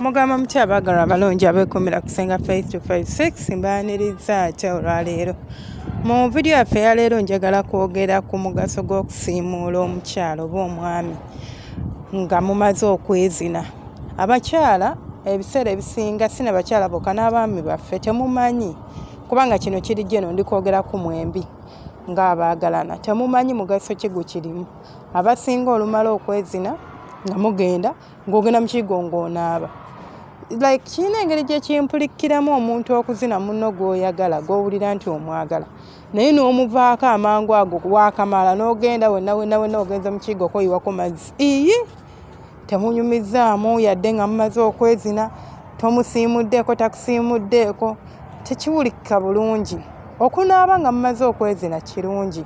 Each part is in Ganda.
mugamba mutya abaagalwa abalungi abeekuumira ku senga faith to 56 mbaaniriza atya olwaleero mu vidiyo yaffe yaleero njagala kwogera ku mugaso gw'okusiimuula omukyalo oba omwami nga mumaze okwezina abakyala ebiseera ebisinga sina bakyala boka n'abaami baffe temumanyi kubanga kino kiri jeno ndi kwogera ku mwembi ng'abaagalana temumanyi mugaso ki gwe kirimu abasinga olumala okwezina nga mugenda ng'ogenda mukigo ng'onaaba like kirina engeri gyekimpulikiramu omuntu okuzina muno gwoyagala gwowulira nti omwagala naye n'omuvaako amangu ago waakamala n'ogenda wena wena wena ogenze mukiigo okoyiwako mazzi iyi temunyumizaamu yadde nga mumaze okwezina tomusiimuddeeko takusiimuddeeko tekiwulikika bulungi okunaaba nga mumaze okwezina kirungi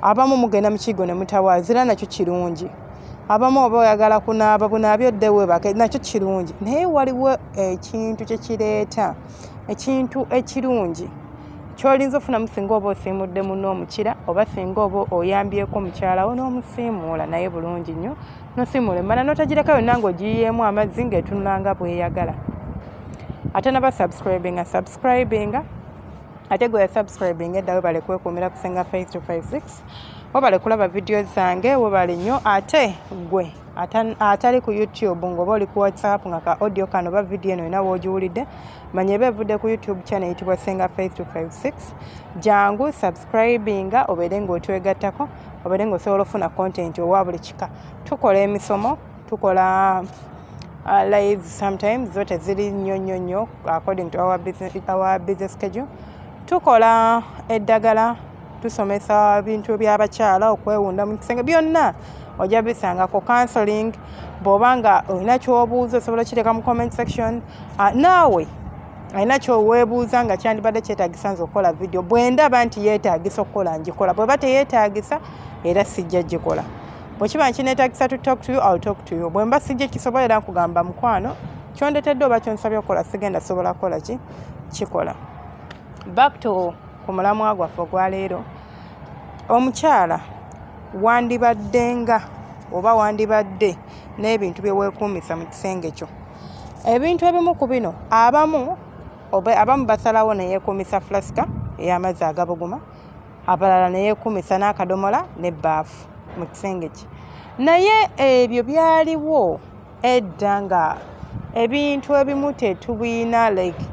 abamu mugenda mukiigo ne mutawaazira nakyo kirungi abamu oba oyagala kunaaba bunaabi oddewe bake nakyo kirungi naye waliwo ekintu kyekireeta ekintu ekirungi kyolinza ofunamu singa oba osiimudde muno omukira oba singa oba oyambyeko omukyalawo n'omusiimuula naye bulungi nnyo nosiimuula emmana n'otagireka yonna ng'ogiyiyeemu amazzi ng'etunulanga bweyagala ate naba subscribinga subscribinga ate gwe yasubscribinga edda webale kwekuumira kusinga 5256 webale kulaba vidiyo zange webale nnyo ate gwe atali ku youtube ngaoba oli ku whatsapp nga ka audio kano oba vidiyo eno yona wogiwulidde manya eba evudde ku youtube channel eyitibwa senga faith 256 jangu subscribinga obeere ngaotwegattako obeere ngaosobola ofuna content owa buli kika tukola emisomo tukola uh, live sometimes zo teziri nnyo nnyo nnyo according to our business, our business schedule tukola eddagala tusomesa bintu byabakyala okwewunda mu kisenge byonna ojja bisangako counseling bwoba nga olina kyobuuza osobola okiteeka mu comment section ah, naawe alina kyoweebuuza nga kyandibadde kyetagisa nze okukola vidiyo bwendaba nti yeetagisa okukola ngikola bweba teyeetagisa era sijja gikola bwekiba nkinetagisa to talk to you ill talk to you bwemba sijja kisobolera nkugamba mukwano kyondetedde oba kyonsabye okukola sigenda sobola kukola ki kikola back to ku mulamwa gwaffe ogwa leero omukyala wandibadde nga oba wandibadde n'ebintu bye weekuumisa mu kisenge kyo ebintu ebimu ku bino abamu abamu basalawo ne yeekuumisa fulasika ey'amazzi agabuguma abalala ne yeekuumisa n'akadomola n'ebbaafu mu kisenge kye naye ebyo byaliwo edda nga ebintu ebimu tetubiyina like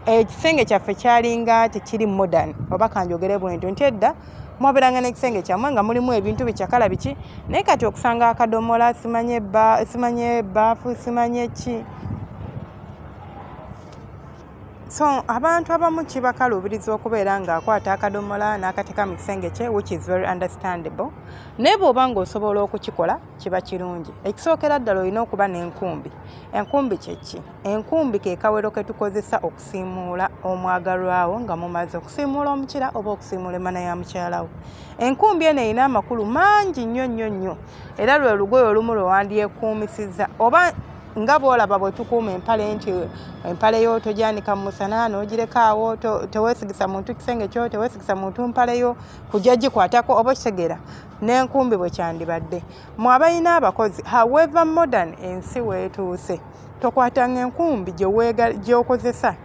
ekisenge kyaffe kyalinga tekiri modern oba kanjogere bwentu nti edda mwaberanga n'ekisenge kyamwe nga mulimu ebintu bikyakala biki naye kati okusanga akadomola simanye simanye ebaafu simanye ki so abantu abamu kibakaluubiriza okubeera ng'akwata akadomola n'akateeka mu kisenge kye which is very understandable naye bw'oba ng'osobola okukikola kiba kirungi ekisookera ddala olina okuba n'enkumbi enkumbi kyeki enkumbi ke kawero ke tukozesa okusiimuula omwagalwawo nga mumaze okusiimuula omukira oba okusiimuula emana ya mukyalawo enkumbi eno erina amakulu mangi nnyo nnyo nnyo era lwe lugoye olumu lwe wandyekuumisiza oba nga bwolaba bwetukuuma empale nti empale yo tojanika mumusana nogirekaawo tewesigisa muntu kisenge kyo tewesigisa muntu mpale yo kujja gikwatako oba okitegera n'enkumbi bwe kyandibadde mu abalina abakozi however modern ensi weetuuse tokwatanga enkumbi gy'okozesa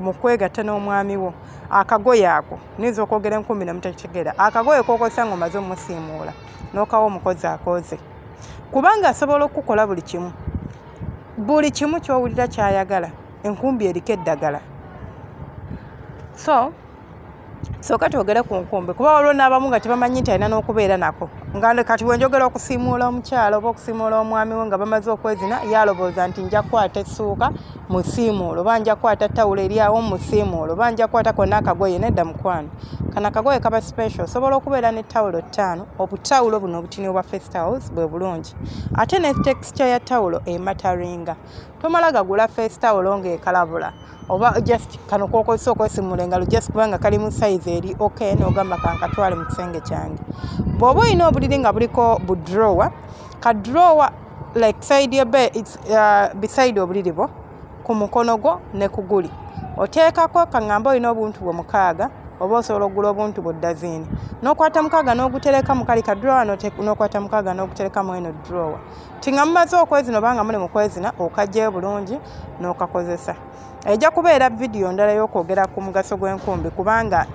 mu kwegatta n'omwami wo akagoye ako niyinza okwogera enkumbi nemutakitegeera akagoye kokozesa nga omaze omusiimuula n'okawa omukozi akooze kubanga asobola okukukola buli kimu buli kimu ky'owulira ky'ayagala enkumbi eriko eddagala so soka twogere ku nkumbi kuba waliwo n'abamu nga tebamanyi nti alina n'okubeera nako nga kati wenjogera okusiimuula omukyalo oba okusiimuula omwami we nga bamaze okwezina yalowooza nti nja kukwata essuuka musiimuula oba nja kukwata tawulo eri awo musiimuula oba nja kukwata kona akagoye nedda mukwano kano akagoye kaba special osobola okubeera ne tawulo ttaano obutawulo buno obutini obwa fest house bwe bulungi ate ne texture ya tawulo emataringa tomala gagula fest tawulo ng'ekalabula oba just kano kokozesa okwesimula engalo just kubanga kali mu size eri ok nogamba kankatwale mu kisenge kyange bwoba olina obuliri nga buliko bu drower ka drower like side ya bed it's uh, beside obuliri bwo ku mukono gwo ne ku guli oteekako kaŋŋamba olina obuntu bwe mukaaga oba osobola okugula obuntu bwe ddaziini n'okwata mukaaga n'ogutereka mu kali ka drowa n'okwata mukaaga n'ogutereka mu eno drowa ti nga mumaze okwezina oba nga muli mu kwezina okagyeyo bulungi n'okakozesa ejja kubeera vidiyo ndala y'okwogera ku mugaso gw'enkumbi kubanga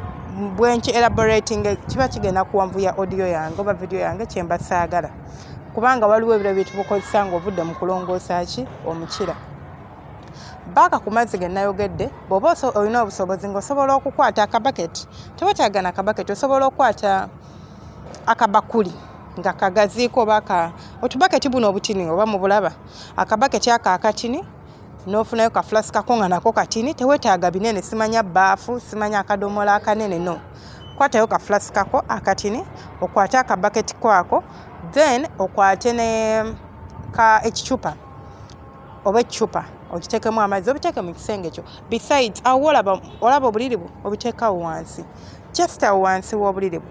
bwenki elaborating kiba kigenda kuwanvuya audio yange oba vidiyo yange kyemba saagala kubanga waliwo ebiro byetubukozesa ngaovudde mu kulongoosa ki omukira baaka ku mazzi ge nayogedde bw'oba olina obusobozi ng'osobola okukwata akabaketi tewetaaga na kabaketi osobola okukwata akabakuli nga kagaziiko oba ka otubaketi buno obutini oba mu bulaba akabaketi ako akatini n'ofunayo kafulasi kako nga nako katini tewetaaga binene simanya baafu simanya akadomola akanene no kwatayo kafulasi kako akatini okwate akabaketi kwako then okwate ne ka ekicupa oba ekicupa okitekemu amazzi obiteeke mu kisenge kyo besides awo olaba obuliri bwo obiteekawo wansi just awo wansi w'obuliri bwo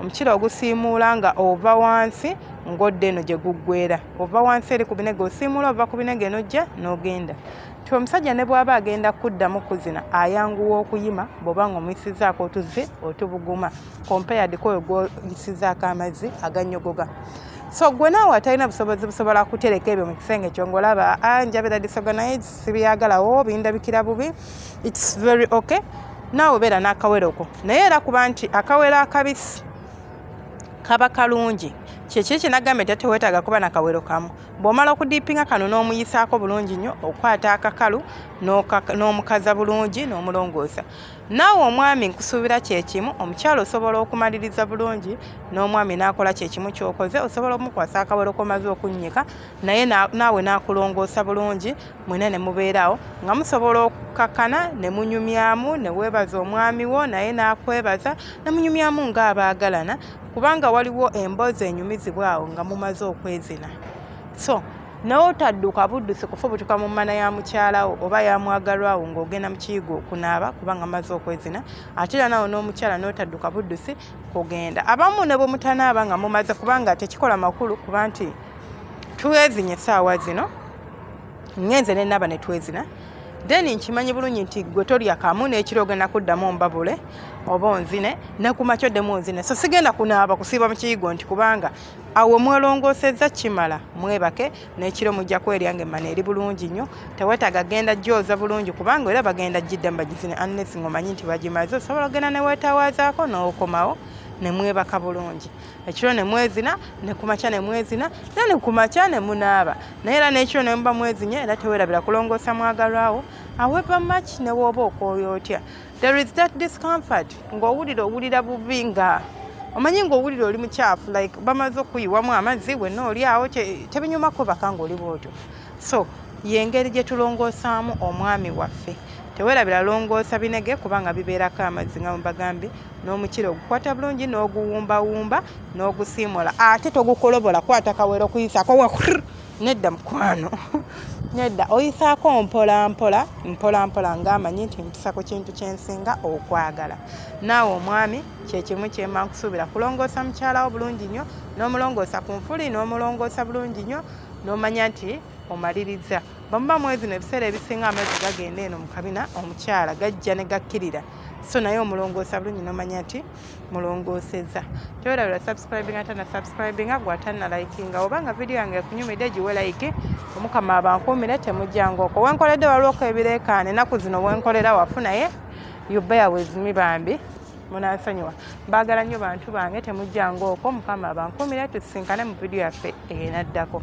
omukira ogusiimuula nga ova wansi ng'odda eno gye guggwera ova wansi eri ku binege osiimuula ova ku binege n'ojja n'ogenda ti omusajja ne bw'aba agenda kuddamu kuzina ayanguwa okuyima bw'oba nga omuyisizaako otuzze otubuguma compared kwoyo gwoyisizaako amazzi aganyogoga so gwe naawe atalina busobozi busobola kutereka ebyo mu kisenge kyo ngaolaba ah, njabira disoga naye sibyagalawo bindabikira bubi its very okay naawe beera n'akawere okwo naye era kuba nti akawere akabisi kaba kalungi kyekiri kyenagamba nti tewetaaga kuba nakawero kamu bwomala okudiipinga kano n'omuyisaako bulungi nnyo okukwata akakalu n'omukaza bulungi n'omulongoosa naawe omwami nkusuubira kyekimu omukyalo osobola okumaliriza bulungi n'omwami n'akola kyekimu kyokoze osobola omukwasa akawero komaze okunnyika naye naawe n'akulongoosa bulungi mwena ne mubeerawo nga musobola okukakkana ne munyumyamu ne weebaza omwami wo naye n'akwebaza ne munyumyamu ng'abaagalana kubanga waliwo emboozi enyumizibwa awo nga mumaze okwezina so nawe otadduka buddusi kufubutuka mu mmana ya mukyalawo oba yamwagalwawo ng'ogenda mu kiyigo okunaaba kubanga maze okwezina ate era nawe n'omukyala n'otadduka buddusi kugenda abamu ne bwe mutanaaba nga mumaze kubanga tekikola makulu kuba nti twezinye essaawa zino ngenze ne naba ne twezina then nkimanyi bulungi nti gwe tolya kamu n'ekiro ogenda kuddamu mbabule oba onzine nekumakyo ddemu onzine so sigenda kunaaba kusiiba mu kiyigo nti kubanga awo mwelongoosezza kimala mwebake n'ekiro mujja kwerya nga emmana eri bulungi nnyo tewetaaga genda gyoza bulungi kubanga era bagenda gidda mbagizine annes ngaomanyi nti bagimaze osobola ogenda newetawaazaako n'okomawo nemwebaka bulungi ekiro ne mwezina ne kumakya ne mwezina era ne kumakya ne munaaba naye era n'ekiro ne muba mwezinya era tewerabira kulongoosa mwagalwawo however much ne wooba okwoyo otya there is that discomfort ng'owulira owulira bubi nga omanyi ng'owulira oli mukyafu like bamaze okuyiwamu amazzi wenna oli awo tebinyumako baka ng'oli bwotyo so yengeri gye tulongoosaamu omwami waffe tewerabira longoosa binege kubanga bibeerako amazzi nga mubagambye n'omukira ogukwata bulungi n'oguwumbawumba n'ogusiimula ate togukolobola kwata kawera okuyisako wa nedda mukwano nedda oyisaako mpolampola mpolampola ngaamanyi nti mpisa ku kintu kyensinga okwagala naawe omwami kyekimu kyemba nkusuubira kulongoosa mukyalawo bulungi nnyo n'omulongoosa ku nfuli n'omulongoosa bulungi nnyo n'omanya nti omaliriza bamuba mwezi no ebiseera ebisinga amazzi gagenda eno mu kabina omukyala gajja ne gakkirira so naye omulongoosa bulungi nomanya nti mulongooseza tewerabira subscribing ate na subscribinga gwatana likinga oba nga vidiyo yange ekunyumidde giwe like omukama abankuumire temujjangoko wenkoledde waliwoko ebireekaana enaku zino wenkolera wafu naye yubeya wezimi bambi munansonyiwa mbaagala nnyo bantu bange temujjangoko mukama abankuumire tusinkane mu vidiyo yaffe enaddako